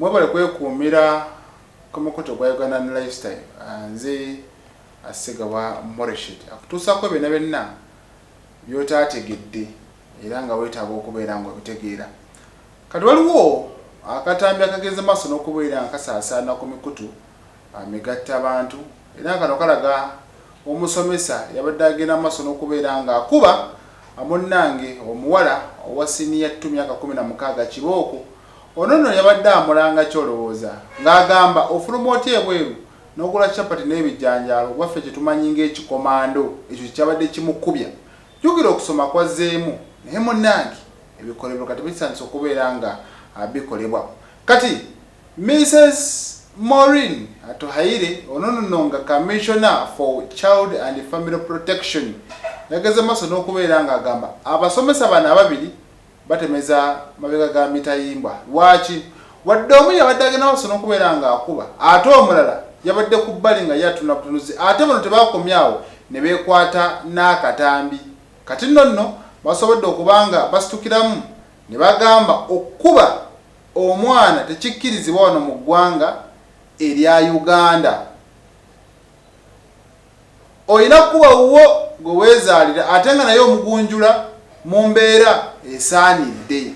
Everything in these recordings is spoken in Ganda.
mwebale kwekuumira ku mukutu gwa uganda ne lifestyle ah, nze asiga wa moreshet akutuusako byonna byonna byotaategedde era nga weetaaga okubeera nga obitegeera kati waliwo akatambi akageze maaso n'okubeera nga kasaasaana ku mikutu ah, migatta abantu era nga kano kalaga Omusomesa yabadde agenda mu maaso n'okubeera ng'akuba munnange omuwala owa siniya ttu myaka kkumi na mukaaga kibooko. Ono nno yabadde amulanga ki olowooza? Ng'agamba ofuluma otya ebweru n'ogula capati n'ebijanjaalo oba ffe kye tumanyi ng'ekikomando? Ekyo kye kyabadde kimukubya. Jjukira okusoma kwazzeemu naye munnange ebikolobero kati bitandise okubeera ng'abikolebwa. Kati Mises Maureen Atuhaire ono nno nga Commissioner for Child and Family Protection yageze maaso n'okubeera nga agamba abasomesa bano ababiri batemeza mabega ga mitayimbwa. Lwaki? Wadde omu yabadde agenda maaso n'okubeera nga akuba ate omulala yabadde ku bbali nga ye atunula butunuzi ate bano tebaakomye awo ne beekwata n'akatambi kati nno nno basobodde okuba nga basitukiramu ne bagamba okukuba Omwana tekikkirizibwa wano mu ggwanga erya Uganda. Olina kukuba wuwo gwe weezaalira ate nga naye omugunjula mu mbeera esaanidde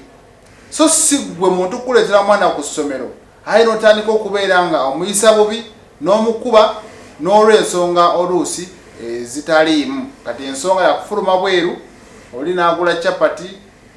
so si ggwe muntu kukuleetera mwana ku ssomero aye n'otandika okubeera nga omuyisa bubi n'omukuba n'olw'ensonga oluusi ezitaliimu kati ensonga yakufuluma bweru oli n'agula chapati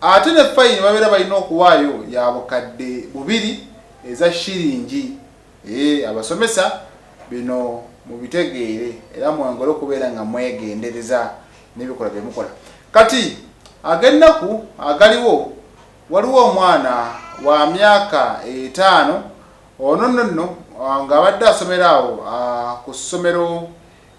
Ate ne fayini babeera balina okuwaayo ya bukadde bubiri eza shilingi. Eeh abasomesa bino mubitegeere era mwongere okubeera nga mwegendereza nebikolwa byemukola. Kati agennaku agaliwo waliwo omwana wa myaka etaano ono nonno nga abadde asomera awo ku ssomero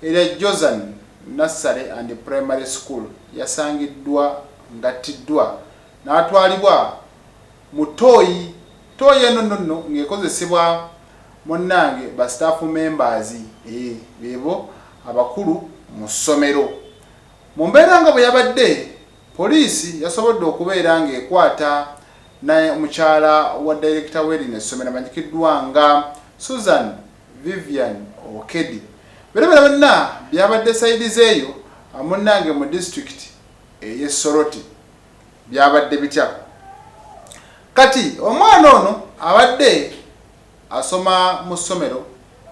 Era Josan Nursery and Primary School yasangiddwa ng'attiddwa n'atwalibwa mu ttooyi. Ttooyi eno nno nno ng'ekozesebwa munnange ba staff members eeh beebo abakulu mu ssomero. Mu mbeera nga bwe yabadde, poliisi yasobodde okubeera ng'ekwata ne mukyala wa dayirekita w'erino essomero amanyikiddwa nga Susan. Vivian Okedi. Bino byonna byabadde side zeeyo munnange mu district eye Soroti. Byabadde bitya? Kati omwana ono abadde asoma mu ssomero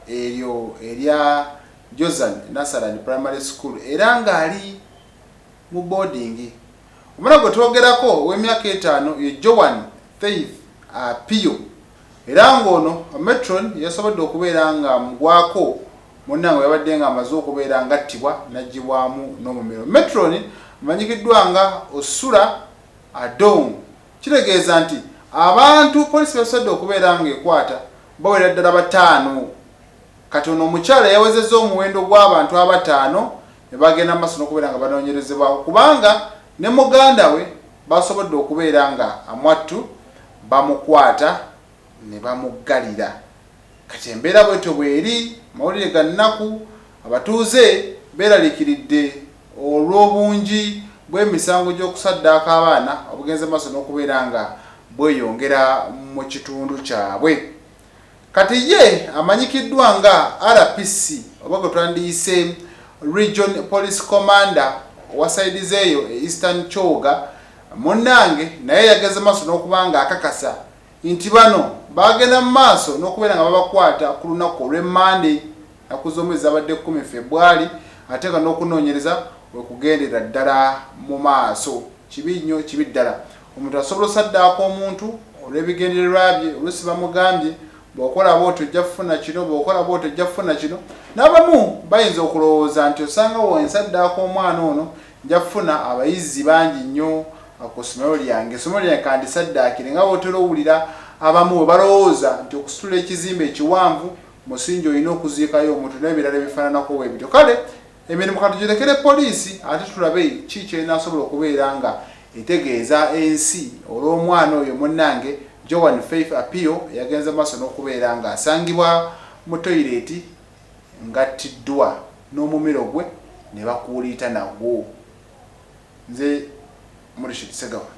eryo erya Jozan Nasaran Primary School era ng'ali mu boarding. Omwana gwe twogerako ow'emyaka etaano ye Joan Faith Apio. Era ng'ono Ometron yasobodde okubeera ng'amugwako, munnange bwe yabadde ng'amaze okubeera ng'attibwa n'aggyibwamu n'omumiro. Ometron amanyikiddwa nga Osura Adong. Kitegeeza nti abantu poliisi beesobodde okubeera ng'ekwata bawera ddala bataano. Kati ono omukyala yawezezza omuwendo gw'abantu abataano ne bagenda mu maaso n'okubeera nga banoonyerezebwako kubanga ne muganda we baasobodde okubeera ng'amwattu. bamukwata ne bamuggalira kati embeera bwetyo bweri mawulire ga nnaku abatuuze beeraliikiridde olw'obungi bw'emisango gy'okusaddaaka abaana obugenze maaso n'okubeera nga bweyongera mu kitundu kyabwe. Kati ye amanyikiddwa nga RPC oba gwe twandiyise Region Police Commander owa side zeeyo e Eastern Kyoga munnange naye yageze maaso n'okuba nga akakasa nti bano baagenda mu maaso n'okubeera nga babakwata ku lunnaku olwe Monday naku z'omwezi zabadde kumi Febwali ate nga n'okunoonyereza wekugendera ddala mu maaso. Kibi nnyo kibi ddala. Omuntu asobola osaddaaka omuntu olw'ebigendererwa bye, oluusi bamugambye, bw'okola bw'otyo ojja kufuna kino, bw'okola bw'otyo ojja kufuna kino. N'abamu bayinza okulowooza nti osanga bwe nsaddaaka omwana ono nja kufuna abayizi bangi nnyo ku ssomero lyange, essomero lyange ka ndisaddaakire. Nga bw'otera owulira abamu bwe balowooza nti okusitula ekizimbe ekiwanvu musingi olina okuziikayo omuntu n'ebirala ebifaananako bwe bityo. Kale Emirimu katugirekere poliisi ate tulabe ki ky'enaasobola okubeera nga etegeeza ensi olw'omwana oyo munnange Joan Faith Apio eyagenze mu maaso n'okubeera ng'asangibwa mu toyireeti ng'attiddwa n'omumiro gwe ne bakuuliita nagwo. Nze Murishid Ssegawa.